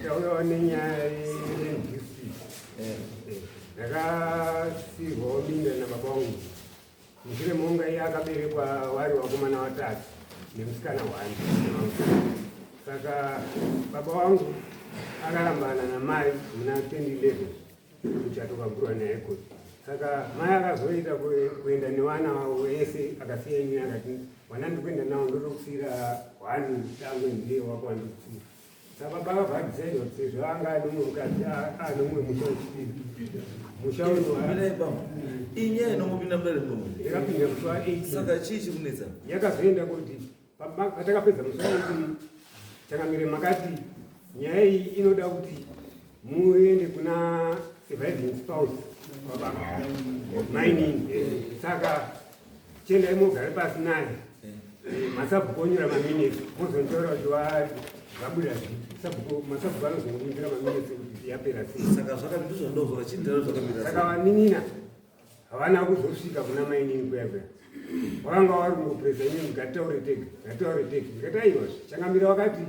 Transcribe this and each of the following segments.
Ndauyawo nenyaya yenhisi ndakasirwawo minda nababa wangu mushure monga iye akaberekwa wari wakomana watatu nemusikana wani saka baba wangu akarambana namai muna 2011 Chatokakura naye kuti saka mai akazoita kuenda nevana vavo vese akasiya ini akati vana ndikuenda navo ndotokusira hwani dangwe ndiye wako wandikusiya saka baba vabvaisaida kuti sezvo anga ane mumwe mukadzi ane mumwe musha wechipiri musha unoinye inomupinda mudare ndikapinda kusuva saka chii chikunetsa yakazoenda kuti Patakapedza musoro changamire makati nyaya iyi inoda kuti muende kuna surviving spouse wababa mainini saka chendai mogare pasi naye masabhuku onyora maminesi mozonditora kuti vabuda masabhuku anozondinyora maminesi kuti yapera sei saka zvakandizvandozora chindira zvakamiraa saka vaninina havana kuzosvika kuna mainini kuya kuya vakanga vari kungopresa inini ngataure tega ngataure tega ndikati aiwa changamira vakati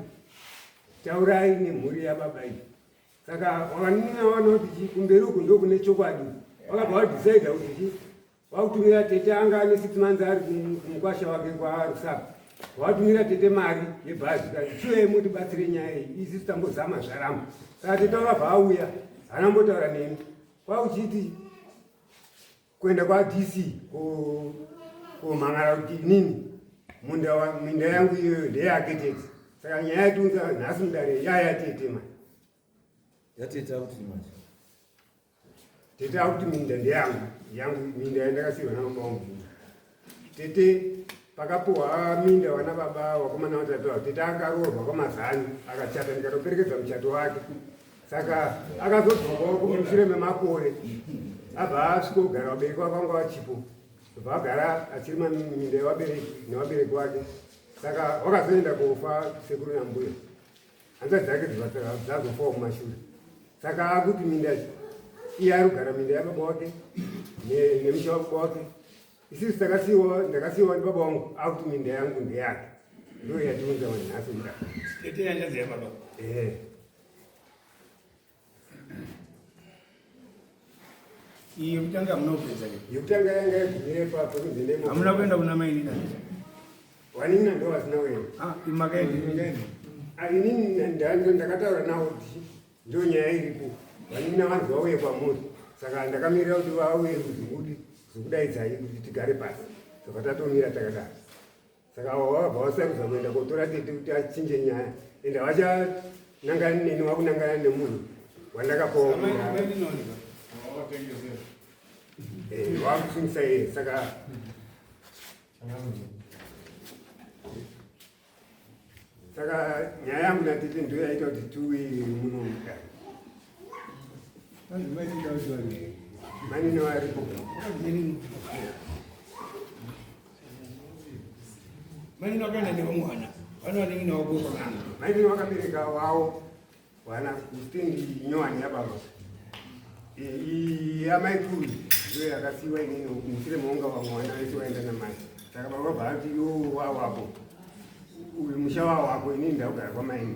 taurai nemhuri yababa iyi saka vakanina vaona kuti chi kumberi uku ndokune chokwadi vakabva vadhisaida kuti chi vakutumira tete anga ane six months ari kumukwasha wake kwaarusaka vatumira tete mari yebhazi kaichiwe mutibatsire nyaya iyi isi tambozama zvaramba saka tete vakabva auya haana mbotaura neni kwauchiti kuenda kwadc komhan'ara kuti inini minda yangu iyoyo ndeyake tete saka nyaya yatiunza nhasi mudare yaya tete ma yatete akuti manje tete akuti minda ndeyangu yangu minda yandakasiirwa namabamubvunza Tete pakapuwa minda wana baba wakomana watatu avo tete akaroorwa kwamazani akachata ndikatoperekedza muchato wake saka akazodzokawo kumushure memakore abva asvika kugara vabereki vakanga vachipo bva agara achirima minda yevabereki nevabereki wake saka wakazoenda kofa sekuru nambuya hanza dzake dzazofawo kumashure saka akuti minda iye ari kugara minda yababa wake nemusha wababa wake isisi takasiiwa ndakasiiwa ndibaba wangu akuti minda yangu ndeyake ndoyatiunza manhasi mda iyi yekutanga hamuna kupedza yekutanga yanga yagumirepa pakunzi ndemo hamuna kuenda kuna mai nina wanina ndo vasina kuenda ah, makaenda ah, inini ndanzo ndakataura nawo kuti ndo nyaya iripo vanina vanzi vauye kwamuri saka ndakamirira kuti vauye kuzimudi zokudaidzai kuti tigare pasi saka tatomira takadaro saka avo vabva vasarudza kuenda kotora tete kuti achinje nyaya ende havachanangani neni wakunangana nemunhu wandakapawa eh, wakusungisa iye saka saka nyaya yangu natete ndoyaita kuti tuwi muno mudai maini vakabereka vavo vana kustendi nyowani yababa amai kuru iyo yakasiwa inini musire maunga vamwe vana vese vaenda namai saka baba bhaati yo wawako uyu musha wawako inini ndakugara kwamaini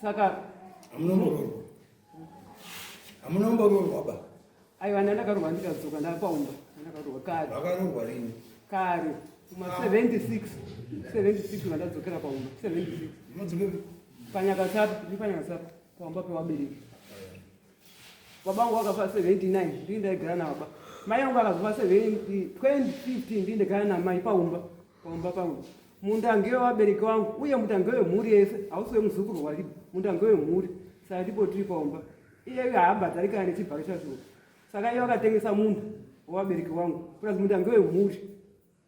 saka amunomboroorwa amunomboroorwa ba aiwa ndanga ndakarorwa ndikadzoka ndakwaumba ndakaroorwa kare vakarorwa rini kare kuma 76 76 vandadzokera paumba 76 panyakasapa ndi panyakasapa paumba pewabereki Baba wangu wakafa 79 ndii ndaigara nababa. Mai yangu akazofa 2015 ndii ndaigara namai paumba paumba pangu. Munda ngewe wabereki wangu uye munda ngewe mhuri yese hausi wemuzukuru wari munda ngewe mhuri saka ndipo tiri paumba. Iyeyu haambadzari kana nechibharo chazvo saka iye wakatengesa munda wewabereki wangu plus munda ngewe mhuri.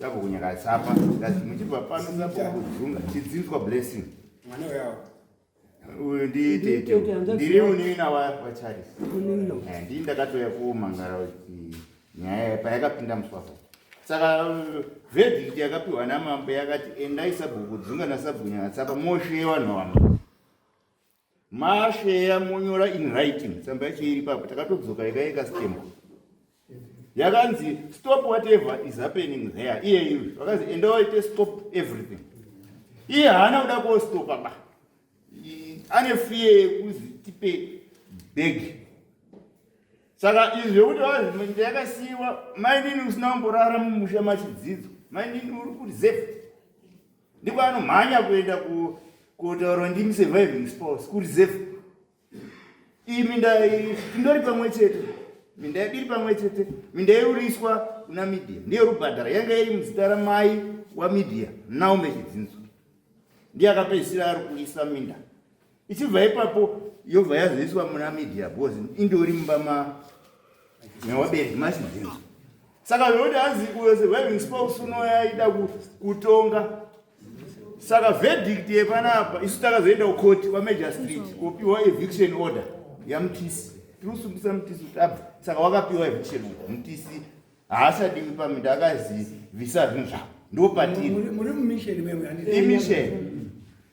Sapo kunyaka sapa ndati muchibva pano sapo kuzunga chidzinzwa blessing. Mwana wao. Uyu ndi tete. Ndiri unina wa wa Charles. Unina. Eh ndi ndakatoya ku mangara kuti nyaya payakapinda muswapo. Saka verdict yakapiwa na mambo yakati endai sapo kudzunga na sabunya sapa moshe vanhu vamwe. Masheya monyora in writing tsamba yacho iri papo takatodzoka yaka yeka stamp yakanzi stop whatever is happening there iye iwe vakanzi enda waite stop everything iye haana kuda kostopa ba ane fiye yekuzi tipe bhegi saka izvi zvekuti vazi ndayakasiyiwa mainini usina kumborara mumusha machidzidzo mainini uri kureserve ndiko anomhanya kuenda kutaura ndimi surviving spouse kureserve imi ndindori pamwe chete minda yadiri pamwe chete minda yeuriswa kuna media ndiyo rubhadhara yanga iri muzita ramai wamedia naume chidzinzo ndiye akapedzisira ari kuisa minda ichibva ipapo yobva yazoiswa muna media bcause indori mumba ma mewabereki machidzinza saka zvekuti hanzi uyo surviving spouse unoyaida kutonga saka verdict yepanapa isu takazoenda kukoti kwamajor street kopiwa eviction order yamutisi tiri kusungisa mutisi kuti abva saka wakapiwa eviction order mutisi haasadiwi paminda akazivisa zvinhu zvavo ndopatiri imisheni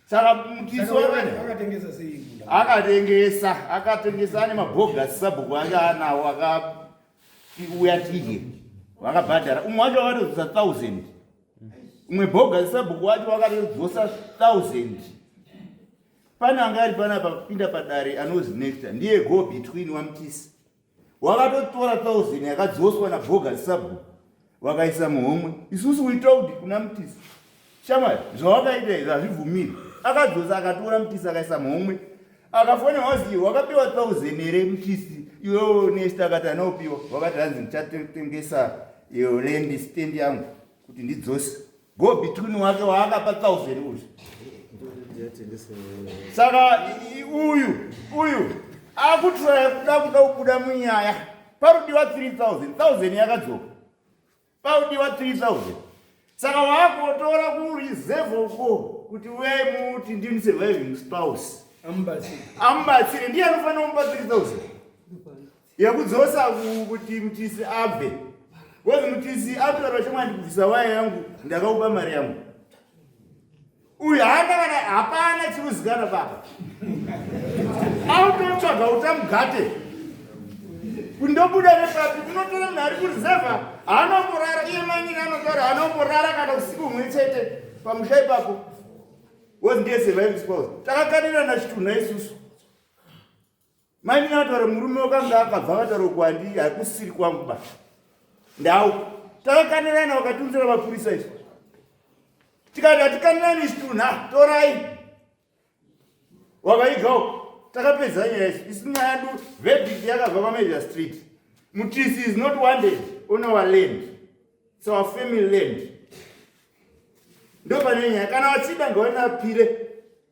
saka mutiso akatengesa sei akatengesa akatengesa ane mabhogasi sabhuku ake anawo akauya tiye vakabhadhara umwe wacho wakatodzosa thousand umwe bhogasi sabhuku wacho wakatodzosa thousand pane anga ari pana papinda padare anozi necta ndiye go between wamutisi wakatotora thousand yakadzoswa nabhoga sabhuku vakaisa muhomwe isusu we told kuna mutisi shamwari zvawakaita izvi hazvibvumiri akadzosa akatora mutisi akaisa muhomwe akafona wazi wakapiwa thousand here mutisi iwewo nest akati anopiwa wakati hanzi ndichatengesa iyo land stand yangu kuti ndidzose go between wake waakapa thousand uyu saka uyu uyu akutiraya kuda kuda kubuda munyaya parudiwa 3000 thousand yakadzoka parudiwa 3000 saka waakotora kureserve uko kuti uyai muti ndini surviving spouse amubatsire ndiye anofanira kumupa 3000 yekudzosa kuti mutisi abve kozi mutisi atora vachomwandi kubvisa waya yangu ndakaupa mari yangu uyu haana kana hapana chiruzikana baba autotsvaga utamugate kundobuda nepapi kunotora munhu ari kurizevha haanongorara iye manyini anotaura haanongorara kana usiku humwe chete pamusha ipapo wozi ndiye surviving spouse takakanirana chitunha isusu Mai Mina vataura murume wakanga akabva vataura kuwandi hakusiri kwangu ba. Ndau. Takakanirana wakatunzira mapurisa izvi. Tikati hatikanirani izvi tunha torai. Wavaigawo takapedza nyaya izvi isi nyaya du verdict yakabva pamajor street. Mutisi is not wanted on our land. It's our family land. Ndopane nyaya kana wachida ngawanapire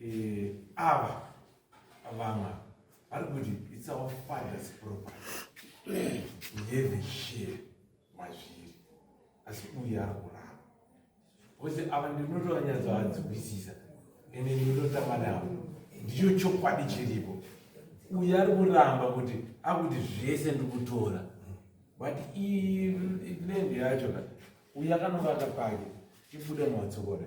eh, ava vamwe vari kuti its our fathers proper ngeve share mazviri asi uye ari kurava ose ava ndinotoanyatsoadzikwisisa ende ndinototamba navo ndicho chokwadi chiripo uye ari kuramba kuti akuti zvese ndikutora but ilendi yacho ka uye akanova akapake ibuda matsokora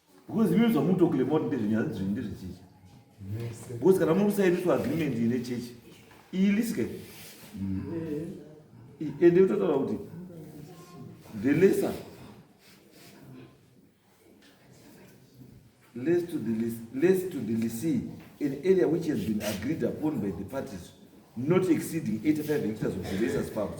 Because imi zvamu talk about ndezve nyaya dzezve ndezve church. Because kana muri kusaini to agreement ine church. Iyi liske. Ende eh, utotaura kuti the lesser less to the less, less to the lessee an area which has been agreed upon by the parties not exceeding 85 hectares of the lesser's farms.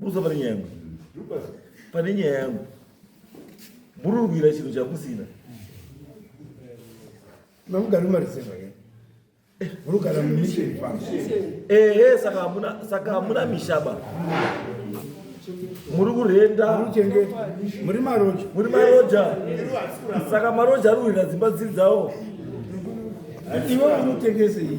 burusa pane nyaya yangu pane nyaya yangu mururwira chinhu chamusina mamugari mariseva ye murugara mumission farm ehe saka hamuna saka hamuna mishaba muri kurenda muchenge muri maroja muri maroja saka maroja ari kuhwira dzimba dziri dzawo iwe unotengese iyi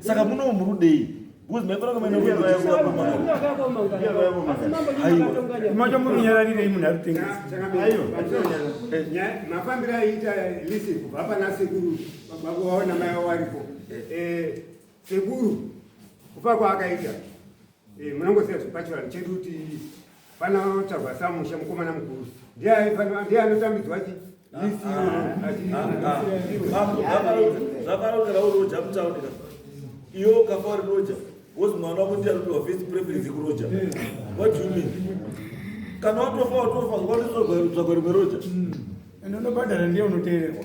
saka muno murudei macho murunyararirei munhu aritengesimafambiro aiita lisi kubva pana sekuru vakuvaona mai waripo sekuru kufa kwaakaita Eh, munongosiya zvipachirani chedu kuti panotsvagwa samusha mukomana mukuru ndiye anotambidzwa chi zvakaronzera uroja mutaurira iwe ukafa uri roja wozi mwana wako ndiye anopiwa first preference kuroja what do you mean kana watofa watofa watozotsvagwa rimwe roja and unobhadhara ndiye unoteererwa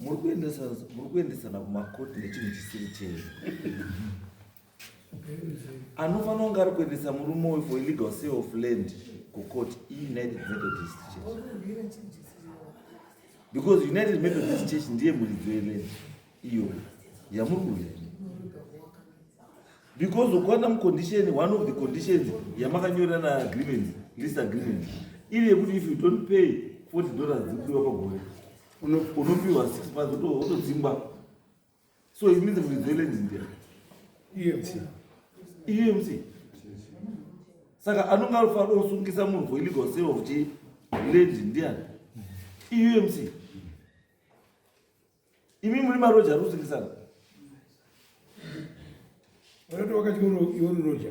muri kuendesana kumakoti nechinhu chisiri chenyu anofanira kunge ari kuendesa murume uyu for illegal sale of land kukoti iunited methodist church because united methodist church ndiye muridzo yeland iyo yamuri kuuya because ukwana mucondition one of the conditions yamakanyorana agreement list agreement iri yekuti if you don't pay 40 dollars dzikudiwa pagore unopiwa six months wotodzingwa so it means kuizoilenzi ndia emc emc saka anonge anofanira kusungisa munhu for illegal sale of chi land ndiani eumc imi muri maroja ari kusungisana vanoti wakati iwori roja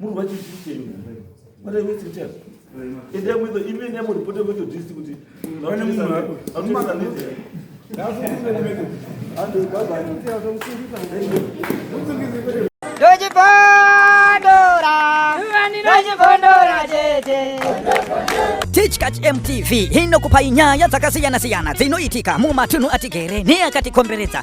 muri vachizvitenga what are you waiting to endai muito imene yamuripota muito disi kuti Tichkach MTV inokupai nyaya dzakasiyana-siyana dzinoitika mumatunhu atigere neakatikomberedza.